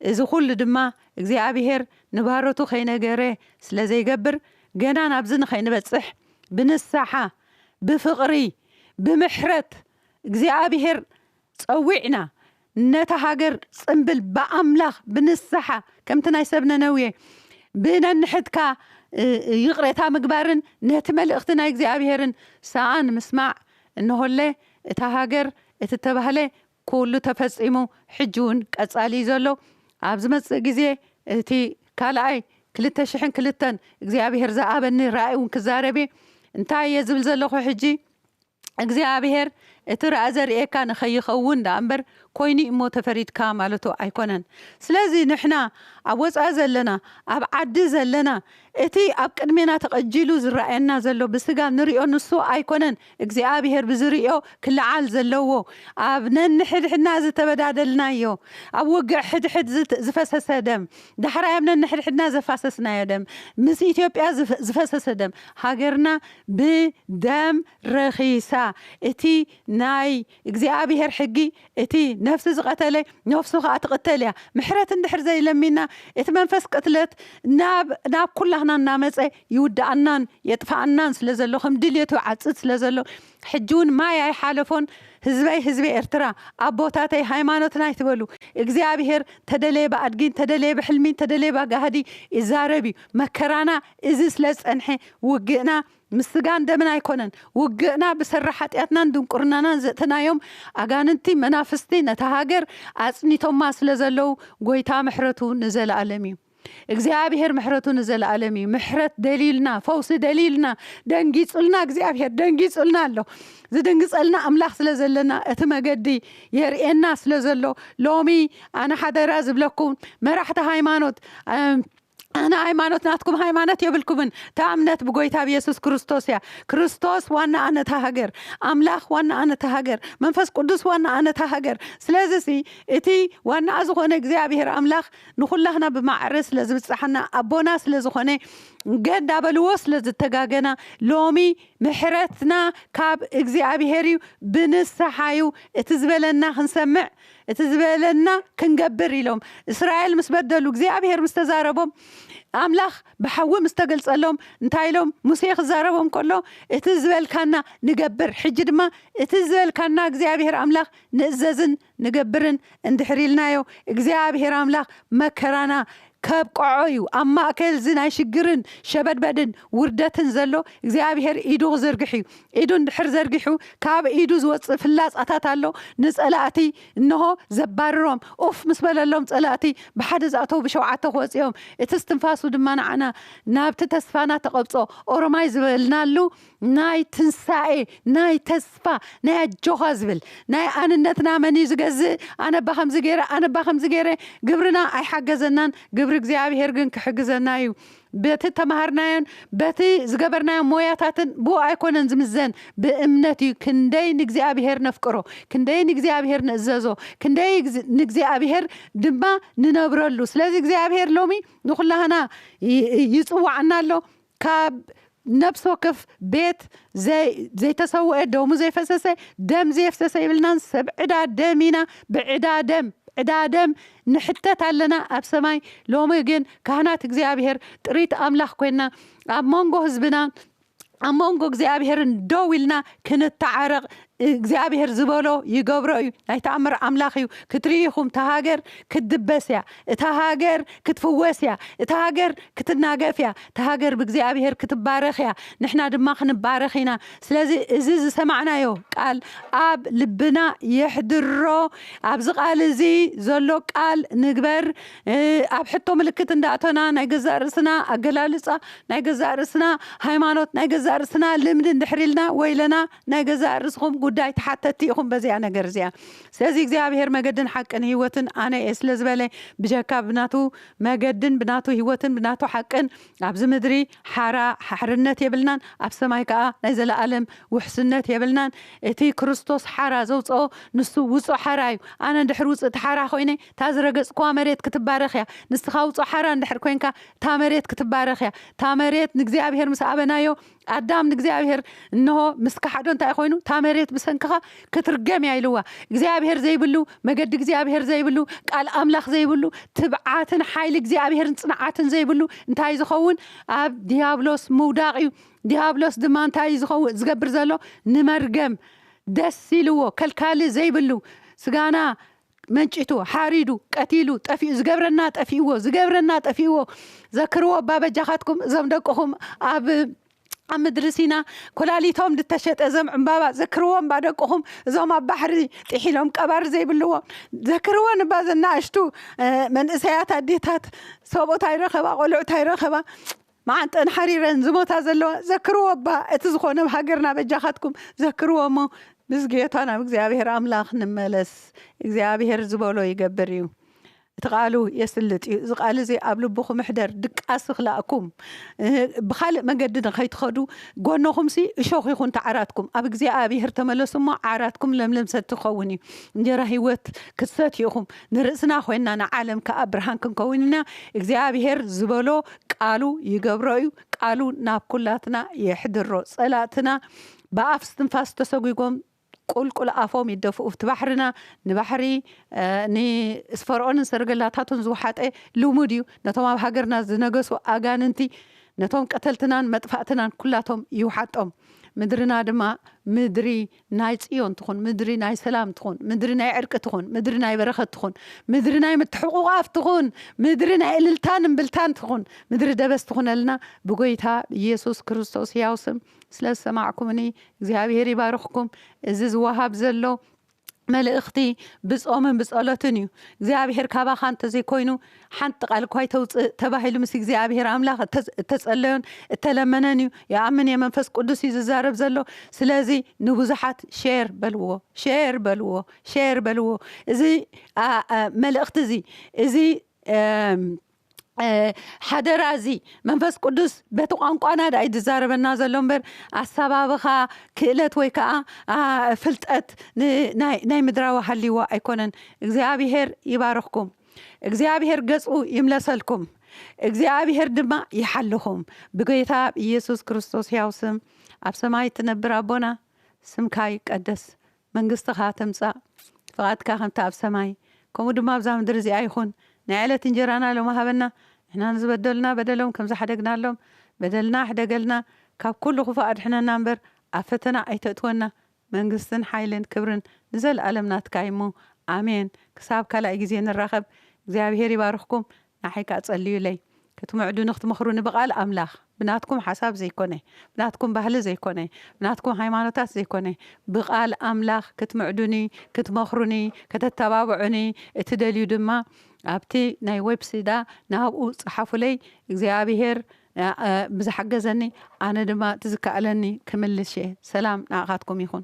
እዚ ኩሉ ድማ እግዚኣብሄር ንባሮቱ ከይነገረ ስለ ዘይገብር ገና ናብዚ ንኸይንበጽሕ ብንስሓ ብፍቅሪ ብምሕረት እግዚኣብሄር ጸዊዕና ነታ ሃገር ጽምብል ብኣምላኽ ብንስሓ ከምቲ ናይ ሰብ ነነዌ ብነንሕድካ ይቕሬታ ምግባርን ነቲ መልእኽቲ ናይ እግዚኣብሔርን ሰኣን ምስማዕ እንሆለ እታ ሃገር እቲ እተባህለ ኩሉ ተፈጺሙ ሕጂ ውን ቀጻሊ እዩ ዘሎ ኣብ ዝመጽእ ግዜ እቲ ካልኣይ ክልተ ሽሕን ክልተን እግዚኣብሔር ዝኣብኒ ራእይ ውን ክዛረብ እየ እንታይ እየ ዝብል ዘለኹ ሕጂ እግዚኣብሔር እቲ ረኣ ዘርእየካ ንከይኸውን ደኣ እምበር ኮይኑ እዩሞ ተፈሪድካ ማለቱ ኣይኮነን ስለዚ ንሕና ኣብ ወጻኢ ዘለና ኣብ ዓዲ ዘለና እቲ ኣብ ቅድሜና ተቀጂሉ ዝረኣየና ዘሎ ብስጋ ንሪኦ ንሱ ኣይኮነን እግዚኣብሔር ብዝርእዮ ክለዓል ዘለዎ ኣብ ነንሕድሕድና ዝተበዳደልናዮ ኣብ ውግእ ሕድሕድ ዝፈሰሰ ደም ዳሕራይ ኣብ ነንሕድሕድና ዘፋሰስናዮ ደም ምስ ኢትዮጵያ ዝፈሰሰ ደም ሃገርና ብ ደም ረኺሳ እቲ ናይ እግዚኣብሄር ሕጊ እቲ ነፍሲ ዝቐተለ ነፍሱ ኸኣ ትቕተል እያ ምሕረት እንድሕር ዘይለሚና እቲ መንፈስ ቅትለት ናብ ናብ ኩላህና እናመጸ ይውድኣናን የጥፍኣናን ስለ ዘሎ ከም ድልየቱ ይዓጽድ ስለ ዘሎ ሕጂ ውን ማይ ኣይሓለፎን ህዝበይ ህዝቢ ኤርትራ ኣቦታተይ ሃይማኖትና ኣይትበሉ እግዚኣብሄር ተደለየ ብኣድጊ እንተደለየ ብሕልሚ እንተደለየ ባጋህዲ ይዛረብ እዩ መከራና እዚ ስለ ዝጸንሐ፣ ውግእና ምስ ስጋን ደምን ኣይኮነን። ውግእና ብሰሪ ሓጢኣትናን ድንቁርናናን ዘእተናዮም ኣጋንንቲ መናፍስቲ ነታ ሃገር ኣጽኒቶማ ስለ ዘለዉ፣ ጎይታ ምሕረቱ ንዘለኣለም እዩ። እግዚኣብሄር ምሕረቱ ንዘለኣለም እዩ። ምሕረት ደልዩልና፣ ፈውሲ ደልዩልና፣ ደንጊጹልና እግዚኣብሄር ደንጊጹልና ኣሎ። ዝድንግጸልና ኣምላኽ ስለ ዘለና እቲ መገዲ የርእየና ስለ ዘሎ ሎሚ ኣነ ሓደራ ዝብለኩም መራሕቲ ሃይማኖት ኣነ ሃይማኖት ናትኩም ሃይማኖት የብልኩምን እታ እምነት ብጎይታ ብየሱስ ክርስቶስ እያ ክርስቶስ ዋና ኣነታ ሃገር ኣምላኽ ዋና ኣነታ ሃገር መንፈስ ቅዱስ ዋና ኣነታ ሃገር ስለዚ ሲ እቲ ዋናኣ ዝኾነ እግዚኣብሔር ኣምላኽ ንኹላህና ብማዕረ ስለ ዝብጻሓና ኣቦና ስለ ዝኾነ ገ እንዳበልዎ ስለ ዝተጋገና ሎሚ ምሕረትና ካብ እግዚኣብሔር እዩ ብንስሓ እዩ እቲ ዝበለና ክንሰምዕ እቲ ዝበለና ክንገብር ኢሎም እስራኤል ምስ በደሉ እግዚኣብሄር ምስ ተዛረቦም ኣምላኽ ብሓዊ ምስ ተገልጸሎም እንታይ ኢሎም ሙሴ ክዛረቦም ከሎ እቲ ዝበልካና ንገብር ሕጂ ድማ እቲ ዝበልካና እግዚኣብሄር ኣምላኽ ንእዘዝን ንገብርን እንድሕር ኢልናዮ እግዚኣብሄር ኣምላኽ መከራና ከብቅዖዩ ኣብ ማእከልዚ ናይ ሽግርን ሸበድበድን ውርደትን ዘሎ እግዚኣብሄር ኢዱ ክዝርግሕዩ ኢዱ እንድሕር ዘርጊሑ ካብ ኢዱ ዝወጽእ ፍላጻታት ኣሎ ንጸላእቲ እንሆ ዘባርሮም ኡፍ ምስ በለሎም ጸላእቲ ብሓደ ዝኣተዉ ብሸውዓተ ክወጽዮም እቲ እስትንፋሱ ድማ ንዓና ናብቲ ተስፋና ተቐብጾ ኦሮማይ ዝበልናሉ ናይ ትንሳኤ ናይ ተስፋ ናይ ኣጆኻ ዝብል ናይ ኣንነትና መን እዩ ዝገዝእ ኣነባ ከምዚ ገይረ ኣነባ ከምዚ ገይረ ግብርና ኣይሓገዘናን ግብሪ እግዚኣብሄር ግን ክሕግዘና እዩ በቲ ተማሃርናዮን በቲ ዝገበርናዮ ሞያታትን ብኡ ኣይኮነን ዝምዘን ብእምነት እዩ ክንደይ ንእግዚኣብሄር ነፍቅሮ ክንደይ ንእግዚኣብሄር ንእዘዞ ክንደይ ንእግዚኣብሄር ድማ ንነብረሉ ስለዚ እግዚኣብሄር ሎሚ ንኩላህና ይፅዋዕና ኣሎ ካብ ነብሲ ወከፍ ቤት ዘይተሰወኤ ደሙ ዘይፈሰሰ ደም ዘየፍሰሰ ይብልናን ሰብ ዕዳ ደም ኢና ብዕዳ ደም ዕዳ ደም ንሕተት ኣለና ኣብ ሰማይ ሎሚ ግን ካህናት እግዚኣብሔር ጥሪት ኣምላኽ ኮይና ኣብ መንጎ ህዝብና ኣብ መንጎ እግዚኣብሔርን ደው ኢልና ክንተዓረቕ እግዚኣብሔር ዝበሎ ይገብሮ እዩ ናይ ተኣምር ኣምላኽ እዩ ክትርኢ ኢኹም እታ ሃገር ክትድበስ እያ እታ ሃገር ክትፍወስ እያ እታ ሃገር ክትናገፍ እያ እታ ሃገር ብእግዚኣብሔር ክትባረኽ እያ ንሕና ድማ ክንባረኽ ኢና ስለዚ እዚ ዝሰማዕናዮ ቃል ኣብ ልብና የሕድሮ ኣብዚ ቃል እዚ ዘሎ ቃል ንግበር ኣብ ሕቶ ምልክት እንዳእቶና ናይ ገዛእ ርእስና ኣገላልጻ ናይ ገዛእ ርእስና ሃይማኖት ናይ ገዛእ ርእስና ልምዲ እንድሕር ኢልና ወይለና ናይ ገዛእ ርእስኹም ጉዳይ ተሓተቲ ኢኹም በዚኣ ነገር እዚኣ። ስለዚ እግዚኣብሄር መገድን ሓቅን ህይወትን ኣነ እየ ስለ ዝበለ ብጀካ ብናቱ መገድን ብናቱ ህይወትን ብናቱ ሓቅን ኣብዚ ምድሪ ሓራ፣ ሓርነት፣ የብልናን ኣብ ሰማይ ከኣ ናይ ዘለኣለም ውሕስነት የብልናን። እቲ ክርስቶስ ሓራ ዘውጸኦ ንሱ ውጹእ ሓራ እዩ። ኣነ እንድሕር ውጽእቲ ሓራ ኮይነ እታ ዝረገጽኩዋ መሬት ክትባረኽ እያ። ንስኻ ውጹእ ሓራ እንድሕር ኮንካ እታ መሬት ክትባረኽ እያ። እታ መሬት ንእግዚኣብሄር ምስ ኣበናዮ ኣዳም ንእግዚኣብሔር እንሆ ምስ ከሓዶ እንታይ ኮይኑ እታ መሬት ብሰንክኻ ክትርገም እያ ኢልዋ እግዚኣብሔር ዘይብሉ መገዲ እግዚኣብሔር ዘይብሉ ቃል ኣምላኽ ዘይብሉ ትብዓትን ሓይሊ እግዚኣብሔርን ጽንዓትን ዘይብሉ እንታይ ዝኸውን ኣብ ዲያብሎስ ምውዳቕ እዩ ዲያብሎስ ድማ እንታይ እዩ ዝኸውን ዝገብር ዘሎ ንመርገም ደስ ኢልዎ ከልካሊ ዘይብሉ ስጋና መንጪቱ፣ ሓሪዱ፣ ቀቲሉ፣ ጠፊኡ ዝገብረና ጠፊእዎ፣ ዝገብረና ጠፊእዎ፣ ዘክርዎ እባ በጃኻትኩም እዞም ደቅኹም ኣብ ኣብ ምድሪ ሲና ኩላሊቶም ዝተሸጠ ዘም ዕምባባ ዘክርዎ እባ ደቅኹም እዞም ኣብ ባሕሪ ጢሒሎም ቀባሪ ዘይብልዎ ዘክርዎን እባ ዘናእሽቱ መንእሰያት ኣዴታት ሰብኡት ኣይረኸባ ቆልዑት ኣይረኸባ መዓንጠን ሓሪረን ዝሞታ ዘለዋ ዘክርዎ እባ እቲ ዝኾነ ኣብ ሃገርና በጃኻትኩም ዘክርዎ እሞ ምስ ጌታ ናብ እግዚኣብሔር ኣምላኽ ንመለስ እግዚኣብሔር ዝበሎ ይገብር እዩ እቲ ቃሉ የስልጥ እዩ እዚ ቃል እዚ ኣብ ልብኹም ሕደር ድቃስ ክላእኩም ብኻልእ መገዲ ንኸይትኸዱ ጎኖኹምሲ እሾኽ ይኹን ተዓራትኩም ኣብ እግዚኣብሔር ተመለሱ እሞ ዓራትኩም ለምለም ሰቲ ክኸውን እዩ እንጀራ ህይወት ክትሰትዩ ኢኹም ንርእስና ኮይንና ንዓለም ከኣ ብርሃን ክንከውን ኢና እግዚኣብሄር ዝበሎ ቃሉ ይገብሮ እዩ ቃሉ ናብ ኩላትና የሕድሮ ጸላእትና ብኣፍ ስትንፋስ ተሰጉጎም ቁልቁል ኣፎም ይደፍኡ ኣብቲ ባሕርና ንባሕሪ ንስፈርኦንን ሰረገላታቱን ዝውሓጠ ልሙድ እዩ ነቶም ኣብ ሃገርና ዝነገሱ ኣጋንንቲ ነቶም ቀተልትናን መጥፋእትናን ኩላቶም ይውሓጦም ምድርና ድማ ምድሪ ናይ ጽዮን ትኹን፣ ምድሪ ናይ ሰላም ትኹን፣ ምድሪ ናይ ዕርቂ ትኹን፣ ምድሪ ናይ በረኸት ትኹን፣ ምድሪ ናይ ምትሕቑቛፍ ትኹን፣ ምድሪ ናይ እልልታን እምብልታን ትኹን፣ ምድሪ ደበስ ትኹነልና ብጎይታ ኢየሱስ ክርስቶስ ሕያው ስም። ስለ ዝሰማዕኩምኒ እግዚኣብሔር ይባርኽኩም። እዚ ዝወሃብ ዘሎ መልእኽቲ ብጾምን ብጸሎትን እዩ። እግዚኣብሔር ካባኻ እንተዘይኮይኑ ሓንቲ ቓል እኳ ኣይተውጽእ ተባሂሉ ምስ እግዚኣብሄር ኣምላኽ እተጸለዮን እተለመነን እዩ ይኣምን እየ መንፈስ ቁዱስ እዩ ዝዛረብ ዘሎ ስለዚ ንብዙሓት ሼር በልዎ ሼር በልዎ ሼር በልዎ እዚ መልእኽቲ እዚ እዚ ሓደራ እዚ መንፈስ ቅዱስ በቲ ቋንቋና ዳእዩ ዝዛረበና ዘሎ እምበር ኣሳባብኻ ክእለት ወይ ከዓ ፍልጠት ናይ ምድራዊ ሃልይዎ ኣይኮነን እግዚኣብሄር ይባርኽኩም እግዚኣብሔር ገጹ ይምለሰልኩም እግዚኣብሔር ድማ ይሓልኹም ብጎይታ ብ ኢየሱስ ክርስቶስ ሕያው ስም ኣብ ሰማይ እትነብር ኣቦና ስምካ ይቀደስ መንግስትኻ ትምጻእ ፍቓድካ ከምቲ ኣብ ሰማይ ከምኡ ድማ ኣብዛ ምድሪ እዚኣ ይኹን ናይ ዕለት እንጀራና ሎሚ ሃበና ንሕና ንዝበደሉና በደሎም ከም ዝሓደግናሎም በደልና ሕደገልና ካብ ኩሉ ክፉእ ኣድሕነና እምበር ኣብ ፈተና ኣይተእትወና መንግስትን ሓይልን ክብርን ንዘልኣለም ናትካ እዩሞ ኣሜን ክሳብ ካላኣይ ግዜ ንራከብ እግዚኣብሄር ይባርክኩም ናዓይ ካኣ ጸልዩለይ ክትምዕዱኒ ክትመክሩኒ ብቃል ኣምላክ ብናትኩም ሓሳብ ዘይኮነ ብናትኩም ባህሊ ዘይኮነ ብናትኩም ሃይማኖታት ዘይኮነ ብቃል ኣምላክ ክትምዕዱኒ ክትመክሩኒ ከተተባብዑኒ እትደልዩ ድማ ኣብቲ ናይ ወብስይዳ ናብኡ ጸሓፉለይ እግዚኣብሄር ብዝሓገዘኒ ኣነ ድማ እቲ ዝከኣለኒ ክምልስ እየ ሰላም ንዓኻትኩም ይኹን።